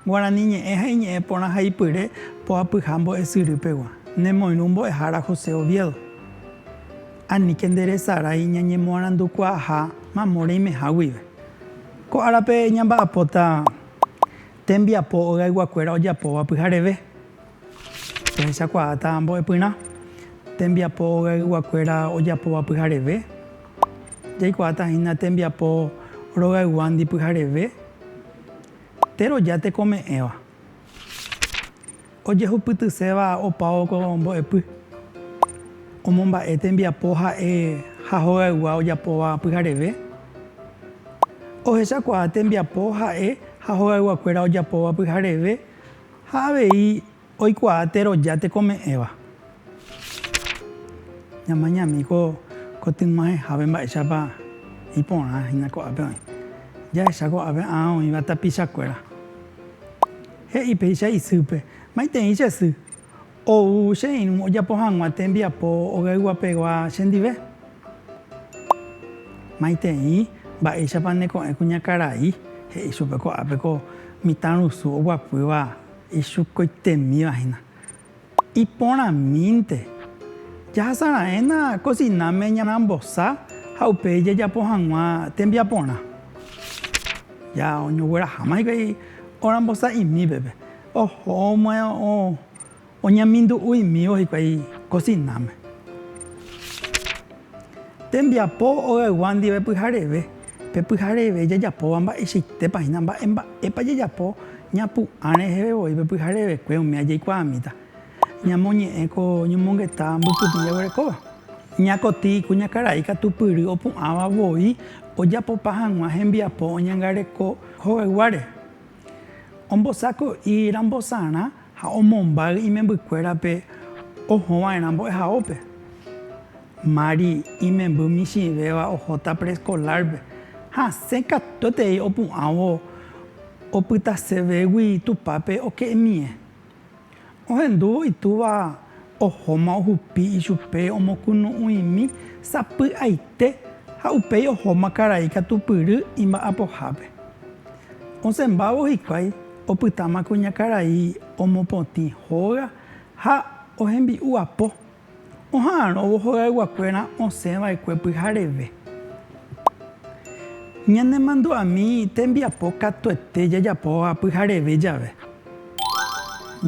Guarani ñe'ẽ ha iñe'ẽ porã ha ipyre poapyha mbo'esyry pegua. Nemoirũ mbo'ehára José Oviedo. Aníke nderesarái ñañemoarandukuaaha mamo reimeha guive. Ko árape ñamba'apóta tembiapo ogayguakuéra ojapóva pyhareve. Pehechakuaáta mbo'epyrã tembiapo ogayguakuéra ojapóva pyhareve. Jaikuaáta hína tembiapo rogayguándi pyhareve, teroja tekome'ẽva. Ojehupytyséva opao ko mbo'epy, omomba'e tembiapo ha'e ha hogaygua ojapóva pyhareve, ohechakuaa tembiapo ha'e ha hogayguakuéra ojapóva pyhareve ha avei oikuaa teroja tekome'ẽva. Ñamañami ko kotyg̃uahẽhápe mba'éichapa iporã hína ko'ápe oĩ. Jahecha ko'ápe ã oĩva tapichakuéra. He'i péicha isýpe, Maitei che sy, ou che irũ ojapo hag̃ua tembiapo ogayguapegua chendive. Maitei, mba'éichapa ne ko'ẽ kuñakarai, he'i chupe ko'ápe ko mitãrusu oguapýva ichukoitemíva hína. Iporãmínte, jahasa raẽna kosináme ñarambosa ha upéi jajapo hag̃ua tembiaporã. Ja oñogueraháma hikuái orambosa'imípepe, ohóma oñemindu'uimívo hikuái kosináme. Tembiapo ogaygua ndive pyhareve. Pe pyhareve jajapóva mba'eichaitépa hína mba'e mba'épa jajapo ñapu'ã reheve voi pe pyharevekue umíva jaikuaamíta. Ñamoñe'ẽ ko ñomongeta mbykymi jaguerekóva. Ñakotĩ kuñakarai katu pyry opu'ãva voi ojapopa hag̃ua hembiapo oñangareko hogayguáre. Ombosako'i rambosarã ha omombáy imembykuérape ohõva'erã mbo'ehaópe. Mari, imemby michĩvéva ohóta preescolar-pe, hasẽ katuetei opu'ãvo opytase végui Tupãpe oke'imie. Ohendúvo itúva ohóma ohupi ichupe omokunu'ũimi sapy'aite ha upéi ohóma karai katupyry imba'apohápe. Osẽmbávo hikuái opytáma kuñakarai omopotĩ hóga ha ohembi'u apo. Oha'arõvo hogayguakuéra osẽ vaekue pyhareve. Ñanemandu'ami tembiapo katuete jajapóva pyhareve jave.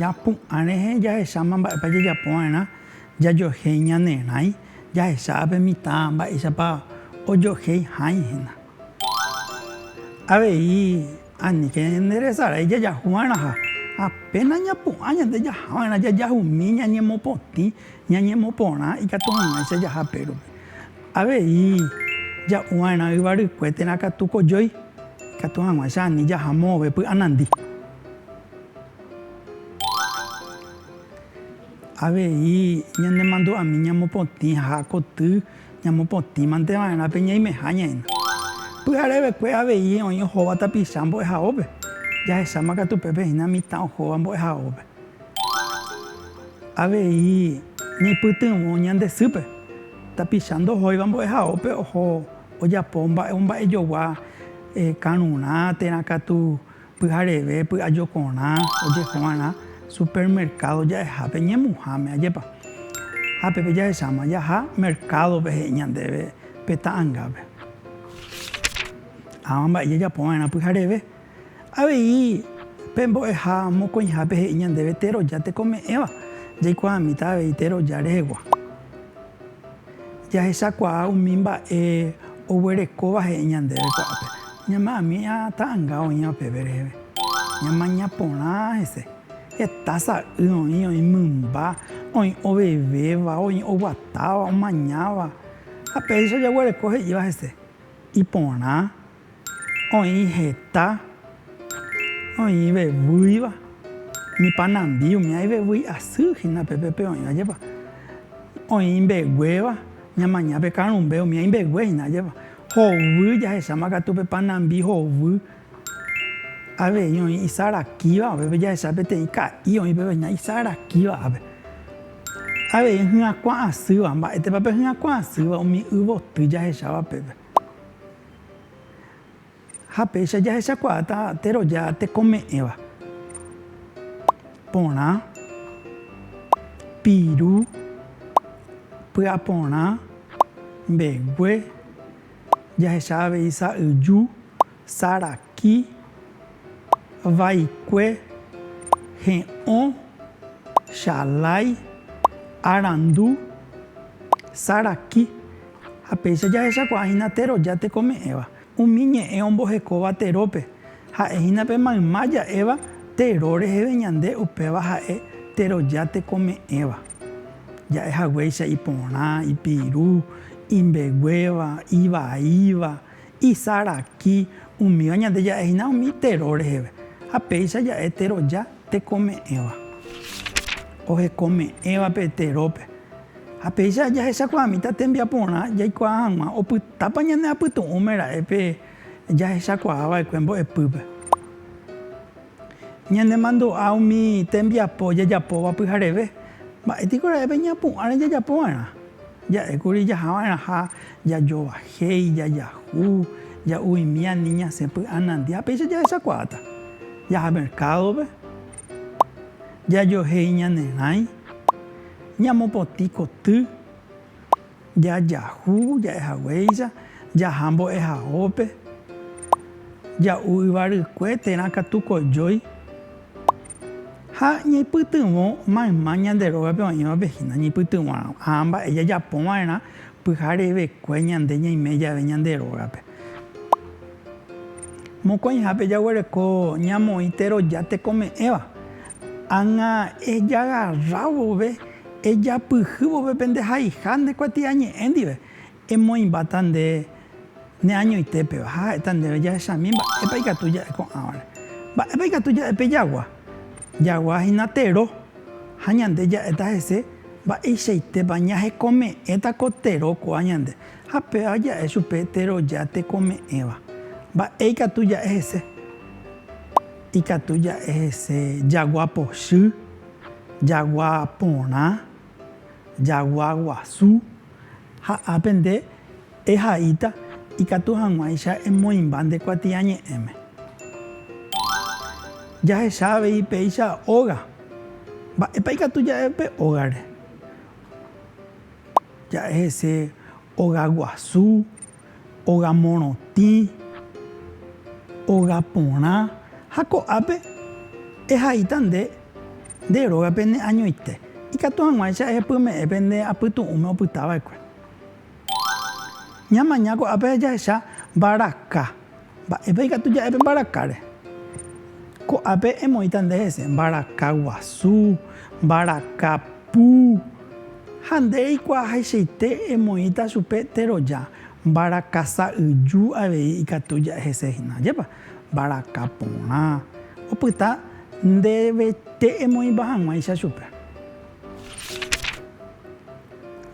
Japu'ã rehe jahecháma mba'épa jajapo va'erã jajohéi ñane rãi, jahecha ape mitã mba'éichapa ojohéi hãi hína. Avei Aníke ñanderesarái jajahu va'erã ha apéna ñapu'ã ñande jaha va'erã jajahu umi ñañemopotĩ, ñañemoporã ikatu hag̃uáicha jaha pérope. Avei ja'u va'erã yvarykue térã katu kojói ikatu hag̃uáicha ani jaha mo'ove py'anandi. Avei ñanemandu'ami ñamopotĩ ha koty Ñamopotĩmante va'erã pe ñaimeha ñaĩna. Pyharevekue avei oĩ ohóva tapicha mbo'ehaópe. Jahecháma katu pépe hína mitã ohóva mbo'ehaópe. Avei ñaipytyvõ ñande sýpe. Tapicha ndohóiva mbo'ehaópe oho ojapo mba'e omba'ejogua karũrã térã katu Pyhareve py'ajokorã ojehúvarã supermercado ja'ehápe ñemuháme, ajépa? Ha pépe jahecháma jaha mercado-pe he'i ñandéve pe ta'angápe. Ãva mba'e jajapova'erã pyhareve. Avei pe mbo'eha mokõihápe he'i ñandéve teroja tekome'ẽva, jaikuaamíta avei teroja rehegua. Jahechakuaa umi mba'e oguerekóva he'i ñandéve ko'ápe. Ñama'ami'a ta'anga oĩva peve reheve. Ñamaña porã hese. Heta sa'y oĩ, oĩ mymba, oĩ ovevéva, oĩ oguatáva, omañáva. Ha péicha jaguereko he'íva hese. Iporã. Oĩ heta, oĩ veguýiva, ni panambi umi aĩ veguýi asy hína pe pépe oĩva jepa. Oĩ imbeguéva, ñamaña pe karũmbe umi aĩ imbegue hína jepa. Hovy jahecháma katu pe panambi hovy, avei oĩ isarakíva, upépe jahecha peteĩ ka'i oĩ upépe hína isarakíva ápe. Avei hyakuã asýva, mba'étepa pe hyakuã asýva umi y voty jahecháva pépe. Ha péicha jahechakuaáta teroja tekome'ẽva, porã, piru, py'aporã, mbegue, jahecha avei sa'yju, sara. Ki vaikue he'õ Chalái arandu Saraki ha péicha jahechakuaahína teroja tekome'ẽva umi ñe'ẽ ombohekóva terópe, ha'ehína pe mayma ja'éva tero reheve ñande upéva ha'e teroja tekome'ẽva ja'e haguéicha iporã, ipiru, imbeguéva, ivaíva, Isaraki umíva ñande ja'e hína umi tero reheve, ha péicha ja'e teroja tekome'ẽva. Ohekome'ẽva pe terópe. Ha péicha jahechakuaamíta tembiaporã jaikuaa hag̃ua opytápa ñaneapytu'ũme ra'e pe jahechakuaa va'ekue mbo'epýpe. Ñanemandu'a umi tembiapo jajapóva pyhareve. Mba'étiko ra'épe ñapu'ãre jajapova'erã? Ja'ékuri jahava'erãha jajovahéi, jajahu, ja'uimi ani ñasẽ py'anandia, péicha jahechakuaáta. Jaha merkádope, jajohéi ñanerãi, ñamopotĩ koty. Jajahu ja'e haguéicha, jaha mbo'ehaópe, ja'u yvarykue térã katu kojói, ha ñaipytyvõ mayma ñande rógape oĩvape hína ñaipytyvõ ha mba'e jajapo va'erã pyharevekue ñande ñaime jave ñande rógape. Mokõihápe jaguereko ñamoĩ teroja tekome'ẽva, Ág̃a ejagarra vove, ejapyhy vove pende haiha nde kuatiañe'ẽ ndive, emoĩmbáta nde ne añoitépeva, ha ha'éta ndéve, Jahechami, mba'épa ikatu ja'e ko'ãvare? Mba'épa ikatu ja'e pe jagua? Jagua hína tero, ha ñande ja'éta hese, mba'eichaitépa ñahekome'ẽta ko tero kóva ñande? Ha péva ja'e chupe teroja tekome'ẽva, mba'e ikatu ja'e hese? Ikatu ja'e hese jagua pochy, jagua porã, jagua guasu, ha ápe nde ehaíta ikatu hag̃uáicha emoĩmba nde kuatiañe'ẽme. Jahecha avei péicha óga. Mba'épa ikatu ja'e upe ógare? Ja'e hese óga guasu. ogamorotĩ, ogaporã, ha ko'ápe ehaíta nde nde rógape ne añoite, ikatu hag̃uáicha ehepyme'ẽ pende apytu'ũme opytava'ekue. Ñamaña ko'ápe jahecha mbaraka. Mba'épa ikatu ja'e pe mbarakáre? Ko'ápe emoĩta nde hese mbaraka guasu, mbaraka pu, ha nde reikuaahaichaite emoĩta chupe teroja mbaraka sa'yju avei ikatu ja'e hese hína. Ajépa? Mbaraka porã. Opyta ndevete emoĩpa hag̃uáicha chupe.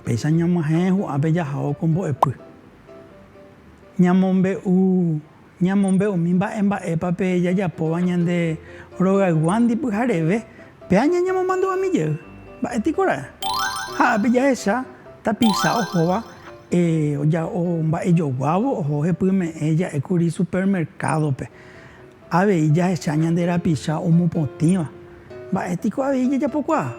Péicha ñamyahẽ ho'ápe jahao ko mbo'epy. Ñamombe'u, ñamombe'umi mba'e mba'épa pe jajapóva ñande rogayguándi pyhareve pe aña ñamomandu'ami jey. Mba'e piko ra'e? Ha ápe jahecha tapicha ohóva omba'ejoguávo oho hepyme'ẽ ja'e kuri supermercado-pe. Avei jahecha ñande rapicha omopotĩva. Mba'e piko avei jajapokuaa?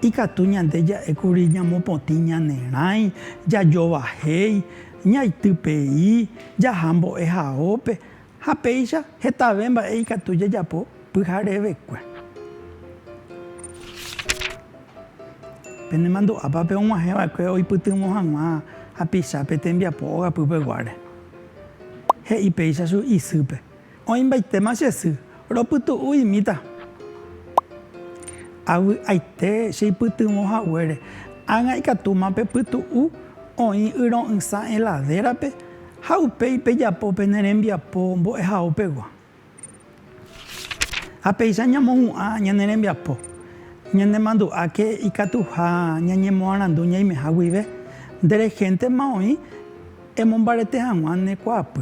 Ikatu ñande ja'e kuri ñamopotĩ ñanerãi, jajovahéi, ñaity pei, jaha mbo'ehaópe, ha péicha hetave mba'e ikatu jajapo pyharevekue. Penemandu'ápa pe og̃uahẽ va'ekue oipytyvõ hag̃ua hapicha pe tembiapo ogapy peguáre? He'i péicha chugui isýpe. Oĩmbaitéma che sy, ropytu'u imíta. Avy'aite cheipytyvõ haguére, ág̃a ikatúma pepytu'u oĩ yro'ysã heladérape ha upéi pejapo pene rembiapo mbo'ehaópegua. Ha péicha ñamohu'ã ñane rembiapo, ñanemandu'áke ikatuha ñañemoarandu ñaimeha guive, nde rehéntema oĩ emombarete hag̃ua ne kuaapy.